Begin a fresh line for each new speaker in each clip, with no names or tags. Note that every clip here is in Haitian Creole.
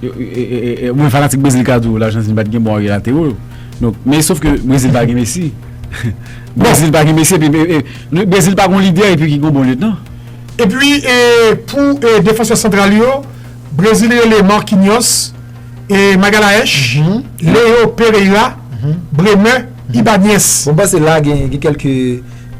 Mwen fanatik Brezil ka di w Lajantinn pat gen bon arye latero yo. Men sof ke Brezil pa gen Messi. Brezil pa gen Messi epi Brezil pa gon lidè epi ki gon bon lyetnan. Epi
pou defansè santral yo, Brezil rele Marquinhos, Magalhaes, Leo Pereira, Bremer, Ibañez. Mwen panse la gen
kèlke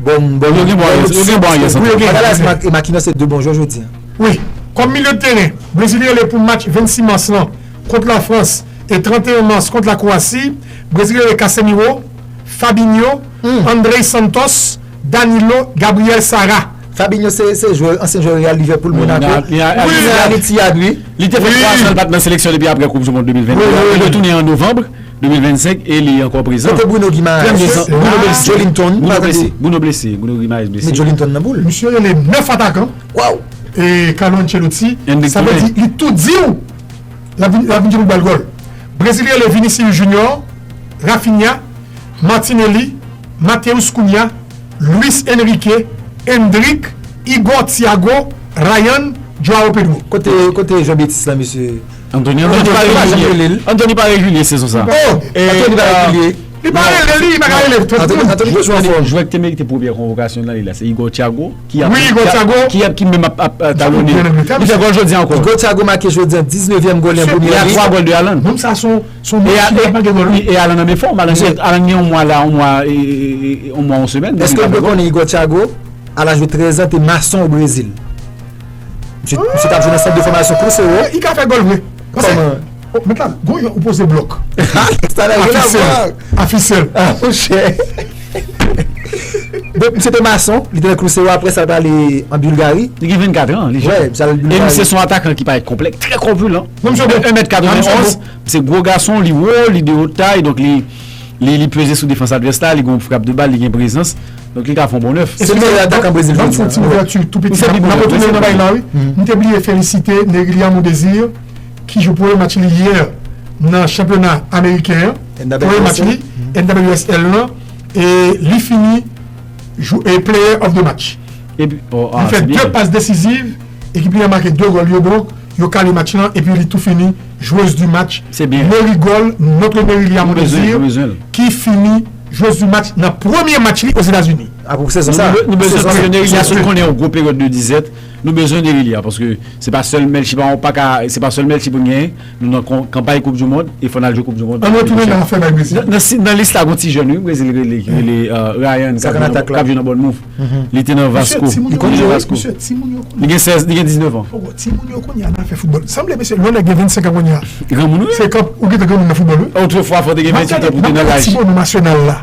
bon. Yo gen bon arye santral.
Magalhaes e Marquinhos se 2 bon jwè
jodi an. Wi, kòm milye
de teren, Brezil rele pou match 26 mas lan kont la Frans e 31 mas kont la Kwowasi, Brezil rele Casemiro, Fabinho, Andrey Santos, Danilo, Gabriel Sara. Fabinho se se
jwè ansyen jwè Real, Liverpool, Monaco. Li se
Al-Ittihad wi. Li te fè 3 zan li pa t nan seleksyon depi aprè koup du mond 2022 a. Li retounen an novanb 2025 e li ankò prezan. Kote Bruno Guimaraes?
Bruno blese. Bruno
blese. Bruno Guimaraes blese. Met Joelinton nan pou l. Misye
rele 9 atakan.
Waww. Eeh
Carlo
Ancelotti sa vle di li tou diw lap vin jwe pou bal gòl Brezil rele Vinicius Junior, Raphinha, Martinelli, Matheus Cunha, Luis Enrique, Endrick, Igor Thiago, Ryan, Joao Pedro. Kote Jean Betis
la mesye.
Antony pa regulye sezon sa. Li pa regulye
li pa
ka rele. Antony jwe
fò. Jwè ki te merite premyè konvokasyon nan li la se Igor Thiago. Wi Hugo Thiago make jodi an
19 vyèm gòl li an premyè lig la. Nonm
sa son machin
li pa manke gòl wi.
E Haaland ann fòm, Haaland gen yon mwa la, yon mwa yon semèn. Èske ou te konn Hugo
Thiago a laj de 13 an te mason o Brezil? Misye tap jwe nan sant de fòmasyon Crucero. Li ka fè gòl
vre. Oh met la gon jan ou poze blok. Afisèl.
Donk misye te mason, li te nan Cruzeiro apre sa li te ale an Bulgari. Li gen 24 an li
jèn. Wè, misye al Bulgari. E misye son atakan ki parèt konplèk, trè kòpulan. Non misye bon. 1 mèt 91, misye gwo gason, li wo, li de wot tay, donk li li peze sou defans advès la, li gon frap de bal, li gen prezans, donk li ka fè yon bon 9. Se meyè atakan Brezil jodi an.
Banm fè yon ti ouverture tou
piti. Misye bit nan tou. Mwen te bliye felisite Nerilia Mondesir. Ki jwe premye match li yè nan chanpyona ameriken an, premye match li NWSL lan e li fini Player of the Match. Li fè 2 pas desiziv, ekip li an make 2 gòl yo donk yo kale match lan epi li tou fini Joueuse du Match, Mary Gòl,
Notre
Mary li a mwen dezi, ki fini Joueuse du Match nan premye match li Ozetazini. Api pou sezon sa a. Pou
sezon sa a. Mary
a sot konnen yon gwo peryòd de dizèt. Nou bezwen Derilia paske se pa sèl Melchie pa pa ka se pa sèl Melchie poun genyen nou nan kanpay koup du mond e fò nal jwe koup du mond année pwochèn nan
si nan lis la gon ti
jèn wi brezil rele ki rele Ryan kap jwe nan bònmouf li te nan vasco li konn jwe vasco
li gen 16 li
gen 19 ans granmoun
wi autrefois fò te gen 28 ans
poun te nan laj.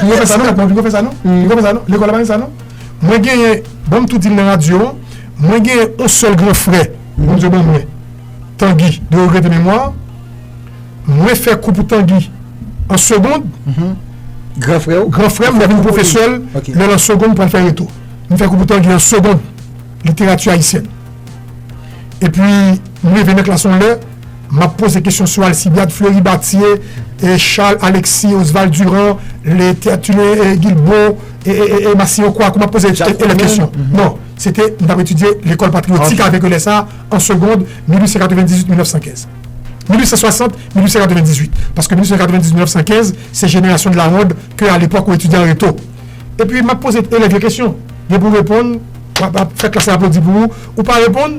Pipo fè sa non mèt mwen
pipo fè sa non pipo fè sa non lekòl la pa gen sa non mwen genyen banm tou dil nan radyo an mwen genyen on sèl gran frè Bondye ban mwen Tanguy de regrete memwa mwen fè kou pou Tanguy an segond gran
frè ou gran frèm lè vin pwofesèl
lè lan segond pral fè reto m fè kou pou Tanguy an segond literati ayisyèn epi m rive nan klas on lè. Map poze kesyon sou Alcibiade Fleury Bathier, Charles Alexis Osval Durand, le Tertullien Guilbaud e Massiancroix kou map poze elèv kesyon. Non, se te m tap etidye lekòl patriyotik avèk yo lè sa a, an segond, 1898, 1915. 1860, 1898, paske 1898, 1915, se jenerasyon de la ronde ke alepòk ou etidyan reto. Epi map poze elèv yo kesyon, gen pou reponn, wap fè klas la aplodi pou ou, ou pa reponn,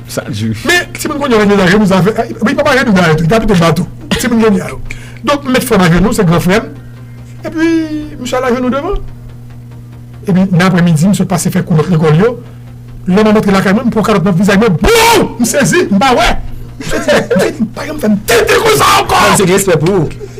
Sa du. Men timoun kounye
yo renmen lage nou zafè a, epi pa mare nou dayè tou, yo pa pito m ba tou, timoun kounye a yo. Donk m met frè m ajenou, se gran frè m, epi misye al ajenou devan. Epi nan apremidi misye pase fè kou lòt lekòl yo, lè m ap antre lakay mwen m pran yon kalòt nan vizaj mwen bouww! M sezi, m pa wè! Misye di m pa janm fè m tenten konsa ankò! Misye gen respè pou ou.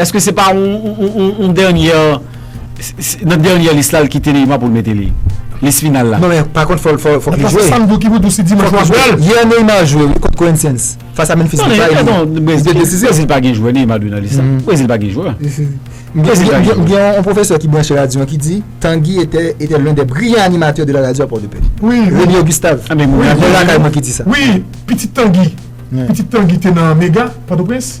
Eske se pa yon dènyè nan dènyè lis la li kite Neymar pou l mete li lis final la. Non men pa kont fòk
li jwe. Paske sam di ki pou di si dimanch
wap wèl. Yè Neymar jwe wi
kont Corinthians fas a Memphis Depay li te
desizif. Brezil pa gen jwè Neymar dwe nan lis la. Brezil pa gen jwè.
M gen yon pwofesè ki branche radyo an ki di Tanguy etè lè dè briyan animatè de la radyo a Pòdepè. Rene Augustav.
An men
mwen lakay
mwen ki di sa. Wi
pitit Tanguy.
Pitit Tanguy te nan mega Pòtoprens.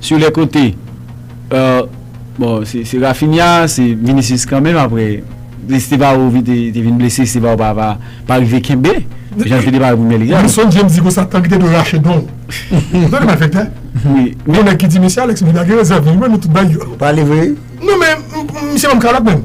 Sur les cotes bon se Raphinha se Vinicius kanmenm aprè Estevao te vin blese Estevao pa rive kenbe jan l te depare pou Premyè Lig la. Mwen sonje m di konsa tank li
te dwe rache don l. Gade malfektè. Yon nèg ki di mesye Alex Medard gen rezèv nan li mwen nou tout bay yo. Ou pale vre wi.
Non men
misye banm kalòt menm.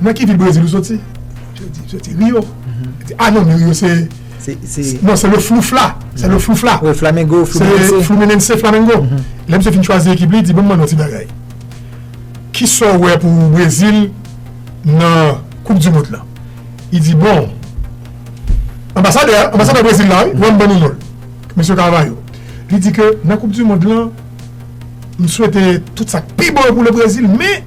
Nan ki vil Brezil ou soti? Je di Rio. Li di, a non, men Rio se, non, se le Floufla, se le Floufla. Wi, Flamengo, Fluminense.
Se Fluminense,
Flamengo. Lè misye fin chwazi ekip li, li di, bon m mande w yon ti bagay, ki sa w wè pou Brezil nan koup di mond lan? Li di, bon, anbasadè a, anbasadè Brezil la, wi, wè m ban nou non l, mesye Carvalho. Li di ke nan koup di mond lan, m swete tout sa k pi bon yo pou le Brezil, men.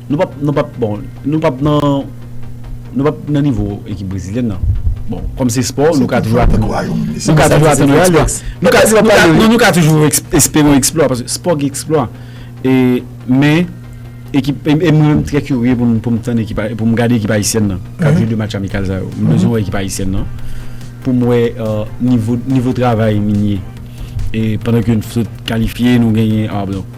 Nou pap nou pap bon nou pap nan nou pap nan nivo ekip brezilyèn nan bon kòm se spò nou ka toujou atann nou ka toujou atann yon eksplwa nou ka toujou atann non nou ka toujou espere yon eksplwa paske spò gen eksplwa e men ekip e mwen menm m trè kirye pou m pou m tann ekip pou m gade ekip ayisyèn nan k ap jwe de match amikal sa yo m bezwen wè ekip ayisyèn nan pou m wè nivo nivo travay Minie e pandan ke n sot kalifye nou genyen a donk.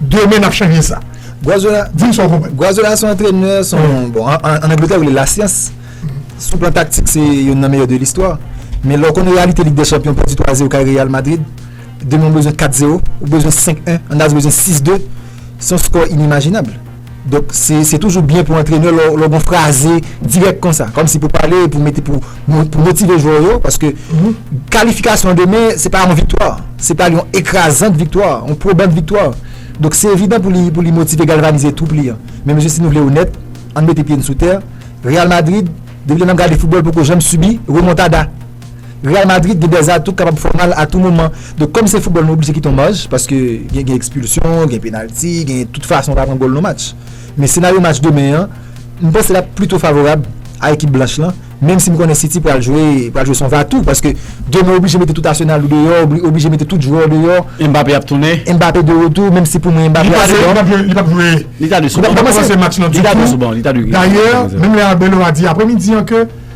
Demen nap chanje sa. Guardiola, di m sa
w konprann. Guardiola se yon antrenè, se yon, bon, an Angletè yo rele l lasyans. Sou plan taktik se youn nan meyè de listwa. Men lè w konnen reyalite Lig dè chanpyon, pèdi 3 a 0 kay Real Madrid, demen w bezwen 4 0, ou bezwen 5 1, Andaz bezwen 6 2, se yon skò inimajinab. Donk se toujou byen pou antrenè lè w gon fraze dirèk konsa, kòmsi pou pale, pou mete pou motive jwè yo, paske kalifikasyon demen se pa yon viktwa, se pa yon ekrazant viktwa, yon pwobant viktwa. Donk se evidan pou li motive, galvanize twoup li an. Men mesye si nou vle onèt, ann mete pye n sou tè, Real Madrid, depi lè n ap gade foutbòl poko janm sibi remontada. Real Madrid gen dèz atou k kapab fè w mal a tou moman. Donk kòm se foutbòl nou oblije kite yon maj paske gen gen ekspilsyon, gen penalti, gen tout fason w ka pran gòl nan match. Men senaryo match demen an, m panse l ap plito favorab a ekip blanch lan menm si m konnen City pral jwe pral jwe son va tou paske demen w oblije mete tout Arsenal ou deyò, ou oblije mete tout jwè w deyò. Mbappé ap tounen.
Mbappé de retou menm
si pou mwen Mbappé ap sou ban. Li pap jwe.
Li ta dwe sou ban. Li pap kòmanse
match lan ditou. Li ta dwe sou ban. Li ta dwe. Dayè
menm lè Arbeloa di apremidi an ke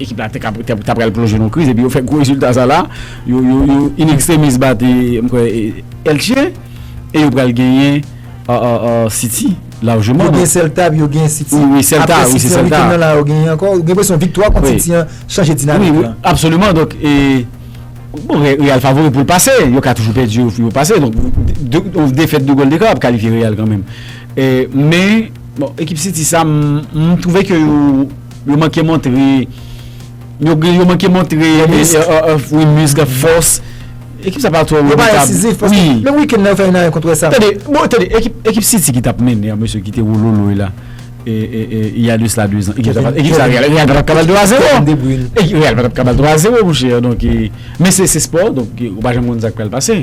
Ekip la te pral plonje nan yon kriz epi yo fè gwo rezilta sa la. Yo in extremis bat m kwè Elche e yo pral genyen City lajman. Yo genyen Celta epi yo
genyen City. Wi wi Celta. Apre City
an weekend nan la yo
genyen ankò. Gen presyon viktwa kont City an chanje dinamik lan. Wi absoliman donk
e bon Real favori pou l pase. Yo ka toujou pèdi yo pou yo pase. Donk yon defèt 2 gòl dekan ap kalifye Real kanmenm. Men bon ekip City sa m twouve ke yo Yo manke montre Yo manke montre Yon misk ak fòs Ekip sa pa twò Yo pa ensizif Menm
wikèn nan yo fè 1 a 1 kont Westham Tande
Ekip City ki tap mennen an mesye ki te wololoy la Il y a de cela 2 ans Ekip sa Real pa tap ka bal 2 a 0 Kevin de Bruyne Real pa tap ka bal 3 a 0 monchè Men se spò Ou pa janm konn sa k pral pase